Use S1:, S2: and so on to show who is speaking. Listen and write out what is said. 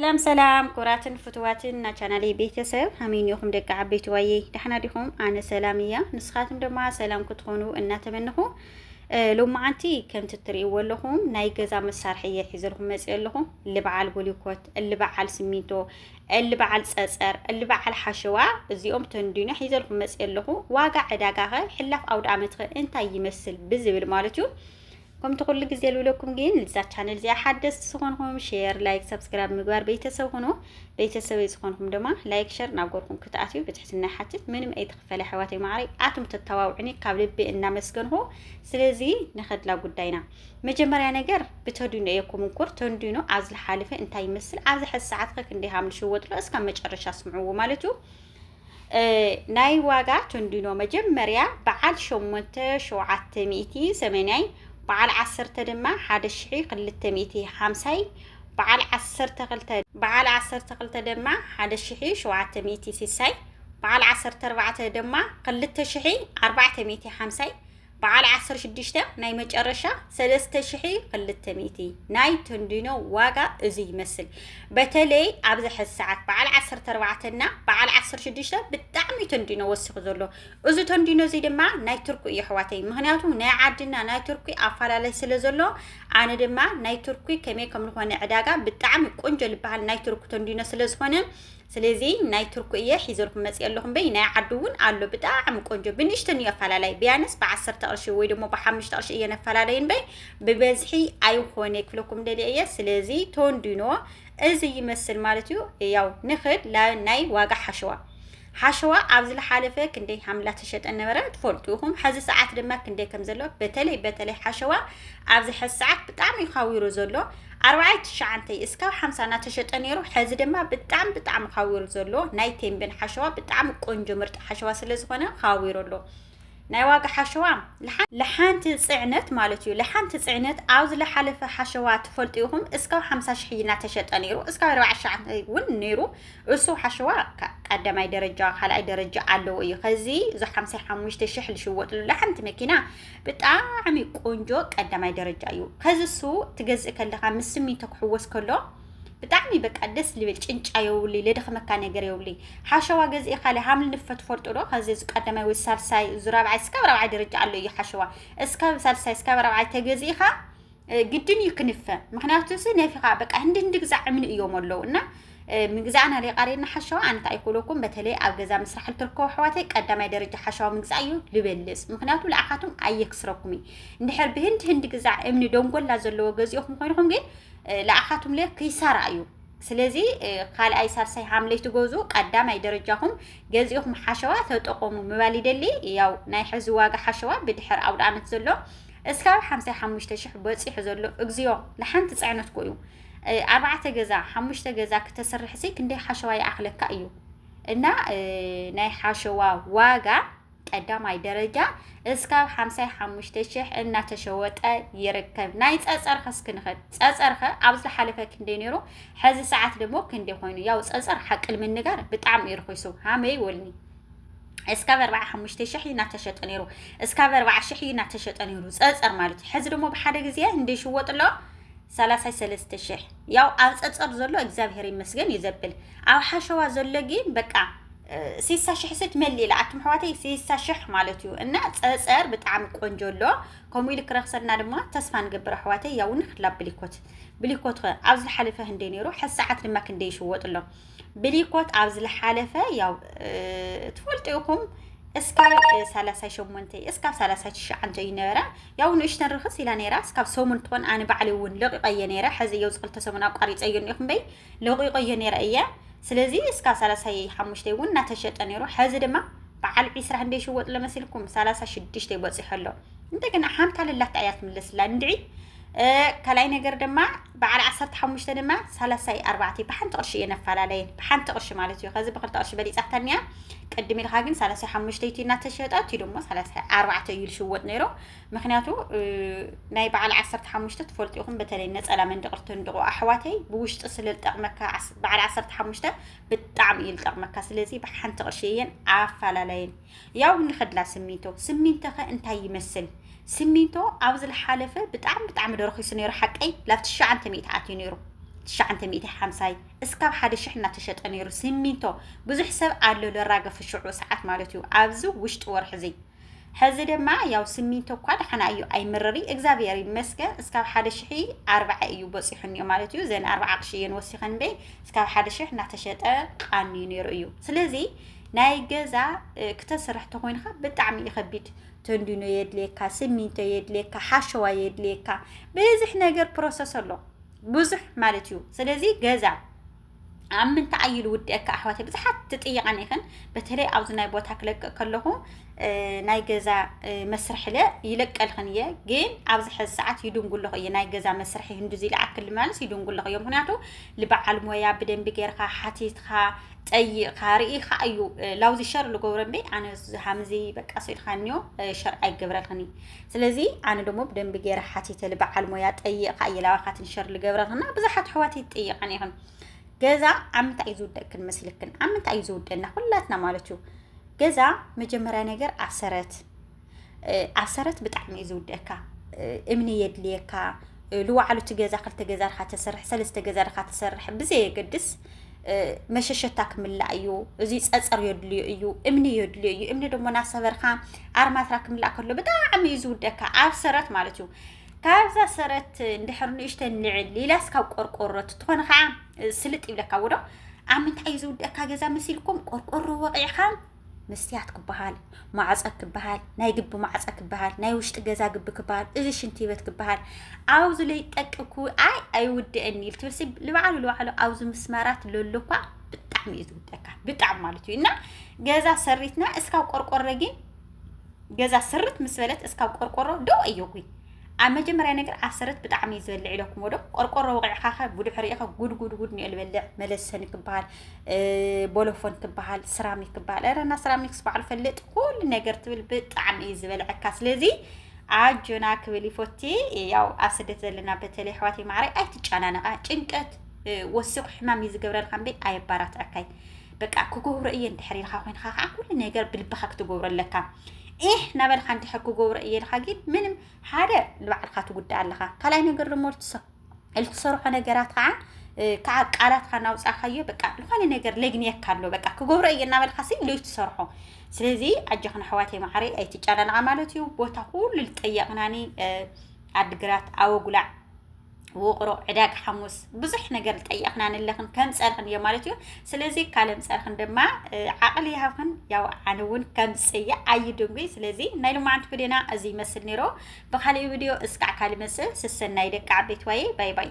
S1: ሰላም ሰላም ኩራትን ፍትዋትን ና ቻናለይ ቤተሰብ ሃመይ ኒኹም ደቂ ዓበይቲ ዋየ ዳሕና ዲኹም ኣነ ሰላም እያ ንስኻትም ድማ ሰላም ክትኾኑ እናተመንኹ ሎማዓንቲ ከምቲ እትርእይዎ ኣለኹም ናይ ገዛ መሳርሒ እየ ሒዘልኩም መፅእ ኣለኹ ልበዓል ቦሊኮት ልበዓል ስሚንቶ ልበዓል ፀፀር ልበዓል ሓሸዋ እዚኦም ተንዲኖ ሒዘልኩም መፅእ ኣለኹ ዋጋ ዕዳጋ ኸ ሕላፍ ኣውደ ዓመት ኸ እንታይ ይመስል ብዝብል ማለት እዩ ከምቲ ኩሉ ግዜ ልብለኩም ግን ልዛ ቻነል እዚኣ ሓደስቲ ዝኾንኹም ሼር ላይክ ሰብስክራይብ ምግባር ቤተሰብ ሁኑ ቤተሰበይ ዝኾንኹም ድማ ላይክ ሸር ናብ ጎርኩም ክትኣትዩ ብትሕትና ይሓትት ምንም ኣይተኽፈለ ኣሕዋተይ ማዕረይ ኣቱም ተተባብዑኒ ካብ ልቢ እናመስገንኹ ስለዚ ንኸድላ ጉዳይና መጀመርያ ነገር ብተድኖ እየ ኩምንኩር ተንዲኖ ኣብ ዝሓለፈ እንታይ ይመስል ኣብዚ ሕዚ ሰዓት ከ ክንደይ ሃም ንሽወጥሎ እስካብ መጨረሻ ስምዕዎ ማለት እዩ ናይ ዋጋ ቶንዲኖ መጀመርያ በዓል ሸሞንተ ሸውዓተ ሚእቲ ሰመንያይ በዓል ዓሰርተ ድማ ሓደ ሽሒ ክልተ ሚእቲ ሓምሳይ በዓል ዓሰርተ ክልተ በዓል ዓሰርተ ክልተ ድማ ሓደ ሽሒ ሸውዓተ ሚእቲ ሲሳይ በዓል ዓሰርተ ኣርባዕተ ድማ ክልተ ሽሒ ኣርባዕተ ሚእቲ ሓምሳይ በዓል ዓሰርተ ሽዱሽተ ናይ መጨረሻ ሰለስተ ሽሒ ክልተ ሚእቲ ናይ ተንዲኖ ዋጋ እዚ ይመስል በተለይ ኣብዚ ሕዚ ሰዓት በዓል ዓሰርተ ኣርባዕተ እና በዓል ዓሰርተ ሽዱሽተ ብጣዕሚ ተንዲኖ ወሲኹ ዘሎ እዚ ተንዲኖ እዚ ድማ ናይ ቱርኩ እዩ ኣሕዋተይ ምክንያቱ ናይ ዓድና ናይ ቱርኩ ኣፈላለይ ስለ ዘሎ ኣነ ድማ ናይ ቱርኩ ከመይ ከም ዝኾነ ዕዳጋ ብጣዕሚ ቆንጆ ዝበሃል ናይ ቱርኩ ተንዲኖ ስለ ዝኾነ ስለዚ ናይ ቱርኩ እየ ሒዘልኩም መጽየ ኣለኹ እምበይ ናይ ዓዱ እውን ኣሎ ብጣዕሚ ቆንጆ ብንእሽተን እዩ ኣፈላላይ ብያነስ ብዓሰርተ ቅርሺ ወይ ደሞ ብሓሙሽተ ቅርሺ እየን ኣፈላለዩ እምበይ ብበዝሒ ኣይኾነ ክብለኩም ደልየ እየ ስለዚ ቶንዲኖ እዚ ይመስል ማለት እዩ ያው ንኽድ ናይ ዋጋ ሓሸዋ ሓሸዋ ኣብ ዝለሓለፈ ክንደይ ሃምላ ተሸጠ ነበረ ትፈልጡ ኢኹም ሕዚ ሰዓት ድማ ክንደይ ከም ዘሎ በተለይ በተለይ ሓሸዋ ኣብዚ ሕዚ ሰዓት ብጣዕሚ እዩ ካዊሩ ዘሎ ኣርባዓይ ትሽዓንተይ እስካብ ሓምሳ ናተሸጠ ነይሩ ሐዚ ድማ ብጣዕሚ ብጣዕሚ ኻዊሩ ዘሎ ናይ ቴምቤን ሓሸዋ ብጣዕሚ ቆንጆ ምርጥ ሓሸዋ ስለ ዝኾነ ኻዊሩ ኣሎ ናይ ዋጋ ሓሸዋ ለሓንቲ ፅዕነት ማለት እዩ ለሓንቲ ፅዕነት ኣብ ዝለሓለፈ ሓሸዋ ትፈልጡ ኢኹም እስካብ ሓምሳ ሽሕ ናተሸጠ ነይሩ እስካብ ኣርባዓ ሽዓንተይ እውን ነይሩ እሱ ሓሸዋ ቀዳማይ ደረጃ ካልኣይ ደረጃ ኣለዎ እዩ ኸዚ እዚ ሓምሳ ሓሙሽተ ሽሕ ዝሽወጥሉ ለሓንቲ መኪና ብጣዕሚ ቆንጆ ቀዳማይ ደረጃ እዩ። ከዚ እሱ ትገዝእ ከለኻ ምስ ስሚንቶ ክሕወስ ከሎ ብጣዕሚ በቃ ደስ ልብል ጭንጫ የውልይ ለደኽመካ ነገር የውልይ ሓሸዋ ገዝኢ ካለ ሃምል ንፈት ፈልጡ ዶ ከዚ እዚ ቀዳማይ ወይ ሳልሳይ እዚ ራብዓይ እስካብ ራብዓይ ደረጃ ኣሎ እዩ ሓሸዋ እስካብ ሳልሳይ እስካብ ራብዓይ ተገዚእኻ ግድን እዩ ክንፈ ምክንያቱ ሲ ነፊኻ በቃ ህንዲ ህንዲ ግዛዕ እምኒ እዮም ኣለው እና ምግዛእና ሌቃሬና ሓሸዋ ኣንታ ኣይኮለኩም በተለይ ኣብ ገዛ ምስራሕ ልትርከቡ ኣሕዋተይ ቀዳማይ ደረጃ ሓሸዋ ምግዛእ እዩ ልበልፅ ምክንያቱ ንኣኻትም ኣየክስረኩም እዩ እንድሕር ብህንድ ህንድ ግዛዕ እምኒ ደንጎላ ዘለዎ ገዚኦኹም ኮይንኹም ግን ንኣኻትም ለ ክይሳራ እዩ ስለዚ ካልኣይ ሳልሳይ ሓምለይ ትገዙ ቀዳማይ ደረጃኹም ገዚኦኹም ሓሸዋ ተጠቐሙ ምባል ይደሊ ያው ናይ ሕዚ ዋጋ ሓሸዋ ብድሕር ኣውደ ኣመት ዘሎ እስካብ ሓምሳይ ሓሙሽተ ሽሕ በጺሑ ዘሎ እግዚኦ ንሓንቲ ጽዕነት ኮዩ ኣርባዕተ ገዛ ሓሙሽተ ገዛ ክተስርሕ ሲ ክንደይ ሓሸዋ ይኣኽለካ እዩ እና ናይ ሓሸዋ ዋጋ ቀዳማይ ደረጃ እስካብ ሓምሳይ ሓሙሽተ ሽሕ እናተሸወጠ ይርከብ ናይ ጸጸርኸ እስክንኸድ ጸጸርኸ ኣብ ዝሓለፈ ክንደይ ነይሩ ሕዚ ሰዓት ደሞ ክንደይ ኮይኑ ያው ጸጸር ሓቂ ንምንጋር ብጣዕሚ እዩ ርኺሱ ሃመይ ወልኒ እስካብ ኣርብዓ ሓሙሽተ ሽሕ እዩ እናተሸጠ ነይሩ እስካብ ኣርብዓ ሽሕ እዩ እናተሸጠ ነይሩ ፀፀር ማለት እዩ ሕዚ ደግሞ ብሓደ ግዜ እንደ ይሽወጥ ኣሎ ሰላሳይ ሰለስተ ሽሕ ያው ኣብ ፀፀር ዘሎ እግዚኣብሔር ይመስገን እዩ ዘብል ኣብ ሓሸዋ ዘሎ ግን በቃ ሲሳ ሽሕ ስት መሊ ኢላ ኣቱም ሕዋተይ ሲሳ ሽሕ ማለት እዩ እና ፀፀር ብጣዕሚ ቆንጆ ኣሎ ከምኡ ኢሉ ክረክሰልና ድማ ተስፋ ንገብር ኣሕዋተይ ያውን ክላ ብሊኮት ብሊኮት ከ ኣብዚ ዝሓለፈ ህንደይ ነይሩ ሕሰዓት ድማ ክንደይ ይሽወጥ ኣሎ ብሊኮት ኣብ ዝለሓለፈ ያው ትፈልጡ ኢኹም እስካብ 38 እስካብ 39 እዩ ነበረ ያው ንእሽተን ርክስ ኢላ ነራ እስካብ ሰሙን ትኾን ኣነ ባዕሊ እውን ለቂቀየ ነረ ሕዚ እየው ዝኽልተ ሰሙን ኣቋሪፀዮ እኒኹም በይ ለቂቀዮ ነረ እየ ስለዚ እስካብ 35 እውን እናተሸጠ ነሩ ሕዚ ድማ በዓል ዒስራ ክንደይ ሽወጥ ለመሲልኩም 36 ይበፅሖ ኣሎ እንደገና ሓምታ ልላታ እያ ትምለስላ እንድዒ ካልኣይ ነገር ድማ በዓል ዓሰርተ ሓሙሽተ ድማ ሳላሳይ ኣርባዕተይ ብሓንቲ ቅርሺ እየን ኣፈላለየን ብሓንቲ ቅርሺ ማለት እዩ ከዚ ብክልተ ቅርሺ በሊፃታ እኒኣ ቅድም ኢልካ ግን ሳላሳይ ሓሙሽተ እቲ እናተሸጠ እቲ ድማ ሳላሳይ ኣርባዕተ እዩ ዝሽወጥ ነይሩ ምክንያቱ ናይ በዓል ዓሰርተ ሓሙሽተ ትፈልጡ ኢኹም በተለይ ነፀላ መንድቕር ትንድቑ ኣሕዋተይ ብውሽጢ ስለ ዝጠቕመካ በዓል ዓሰርተ ሓሙሽተ ብጣዕሚ እዩ ዝጠቕመካ ስለዚ ብሓንቲ ቅርሺ እየን ኣፈላለየን ያው ንኸድላ ስሚንቶ ስሚንቶኸ እንታይ ይመስል ስሚንቶ ኣብ ዝለሓለፈ ብጣዕሚ ብጣዕሚ ዶ ረኺሱ ነይሩ ሓቀይ ላብ ትሽዓንተ ሚእቲ ኣትዩ ነይሩ ትሽዓንተ ሚእቲ ሓምሳይ እስካብ ሓደ ሽሕ እናተሸጠ ነይሩ ስሚንቶ ብዙሕ ሰብ ኣሎ ለራገፍ ሽዑ ሰዓት ማለት እዩ ኣብዚ ውሽጢ ወርሒ እዙይ ሕዚ ድማ ያው ስሚንቶ እኳ ደሓና እዩ ኣይምርሪ እግዚኣብሔር ይመስገን እስካብ ሓደ ሽሒ ኣርባዓ እዩ በፂሑን እዩ ማለት እዩ ዘን ኣርባዓ ቅሺ እየን ወሲኸን እምበይ እስካብ ሓደ ሽሕ እናተሸጠ ቃንዩ ነይሩ እዩ ስለዚ ናይ ገዛ ክተስርሕ ተኾይንካ ብጣዕሚ እዩ ከቢድ ተንዲኖ የድልየካ ስሚንቶ የድልየካ ሓሸዋ የድልየካ ብዙሕ ነገር ፕሮሰስ ኣሎ ብዙሕ ማለት እዩ ስለዚ ገዛ ኣብ ምንታይ ኣይሉ ውድአካ ኣሕዋት ብዙሓት ትጥይቃን ይኽን በተለይ ኣብዚ ናይ ቦታ ክለቅቅ ከለኹ ናይ ገዛ መስርሒ ለ ይለቀልኽን እየ ግን ኣብዚ ሕዚ ሰዓት ይድንጉለኹ እየ ናይ ገዛ መስርሒ ህንዱዚ ልኣክል ማለስ ይድንጉለኹ እየ ምክንያቱ ልበዓል ሞያ ብደንቢ ጌርካ ሓቲትካ ጠይቕካ ርኢኻ እዩ ላውዚ ሸር ልገብሮ እምበይ ኣነ ሃምዚ በቃ ስኢልካኒዮ ሸር ኣይገብረክን እዩ ስለዚ ኣነ ደሞ ብደንቢ ገይረ ሓቲተሊ በዓል ሞያ ጠይቕካ እየ ላባካትን ሸር ልገብረክና ብዙሓት ኣሕዋት ይጠይቐን ኢኽን ገዛ ኣብ ምንታይ እዩ ዝውደቅክን መስልክን ኣብ ምንታይ እዩ ዝውደና ኩላትና ማለት እዩ ገዛ መጀመርያ ነገር ኣሰረት ኣሰረት ብጣዕሚ እዩ ዝውደካ እምኒ የድልየካ ልዋዕሉ እቲ ገዛ ክልተ ገዛ ድካ ተሰርሕ ሰለስተ ገዛ ድካ ተሰርሕ ብዘየገድስ መሸሸታ ክምላእ እዩ እዚ ፀፀር የድልዮ እዩ እምኒ የድልዮ እዩ እምኒ ድማ ናሰበርካ ኣርማትራ ክምላእ ከሎ ብጣዕሚ እዩ ዝውደካ ኣብ ሰረት ማለት እዩ ካብዛ ሰረት እንድሕር ንእሽተ ንዕል ኢላስ ካብ ቆርቆሮ ትኾነ ከዓ ስልጥ ይብለካ ውዶ ኣብ ምንታይ እዩ ዝውደካ ገዛ መሲልኩም ቆርቆሮ ወቂዕካ መስትያት ክበሃል፣ ማዕፀ ክበሃል፣ ናይ ግቢ ማዕፀ ክበሃል፣ ናይ ውሽጢ ገዛ ግቢ ክበሃል፣ እዚ ሽንቲ ቤት ክበሃል ኣብዚ ለይጠቅኩ ኣይ ኣይውድእን ኢል ትብልሲ ልባዕሉ ልባዕሉ ኣብዚ ምስማራት ለሎ እኳ ብጣዕሚ እዩ ዝውደካ ብጣዕሚ ማለት እዩ እና ገዛ ሰሪትና እስካብ ቆርቆሮ ግን ገዛ ስርት ምስ በለት እስካብ ቆርቆሮ ደው ኣየጉይ ኣብ መጀመርያ ነገር ኣሰረት ብጣዕሚ እዩ ዝበልዕ ኢለኩምዎ ዶ ቆርቆሮ ወቂዕኻኸ ጉድሕ ርኢኸ ጉድ ጉድ ጉድ ኒኦ ዝበልዕ መለሰኒ ክበሃል ቦሎፎን ክበሃል ስራሚክ ክበሃል ረና ስራሚክስ በዓሉ ፈልጥ ኩሉ ነገር ትብል ብጣዕሚ እዩ ዝበልዐካ ስለዚ ኣጆና ክብል ይፎቲ ያው ኣብ ስደት ዘለና በተለይ ኣሕዋት ማዕረ ኣይትጨናነቃ ጭንቀት ወሲቑ ሕማም እዩ ዝገብረልካ እምበ ኣየባራትዐካይ በቃ ክገብሮ እየ እንድሕር ኢልካ ኮይንካ ከዓ ኩሉ ነገር ብልብኻ ክትገብሮ ኣለካ ኤህ ናበልካ እንድሕር ክገብሮ እየ ኢልካ ግን ምንም ሓደ ንባዕልካ ትጉዳእ ኣለካ ካልኣይ ነገር ደሞ ልትሰርሖ ነገራት ከዓ ከዓ ቃላትካ እናውፃእካዮ በቃ ዝኾነ ነገር ለግንየካ ኣሎ በቃ ክገብሮ እየ እናበልካ ሲ ሎይ ትሰርሖ ስለዚ ኣጆኽን ኣሕዋተይ መዓረ ኣይትጨናንቓ ማለት እዩ ቦታ ኩሉ ልጠየቕናኒ ኣድግራት ኣወጉላዕ ውቕሮ ዕዳግ ሓሙስ ብዙሕ ነገር ጠየቕና ንለኽን ከም ፀርኽን እዮ ማለት እዩ ስለዚ ካለም ፀርኽን ድማ ዓቕሊ ይሃብክን ያው ኣነ እውን ከም ፅየ ኣይድንጉይ ስለዚ ናይ ልማዓንቲ ቪድዮና እዚ ይመስል ነይሮ ብካሊእ ቪድዮ እስካዕ ካልእ መስል ስሰናይ ደቂ ዓበይት ዋየ ባይ ባይ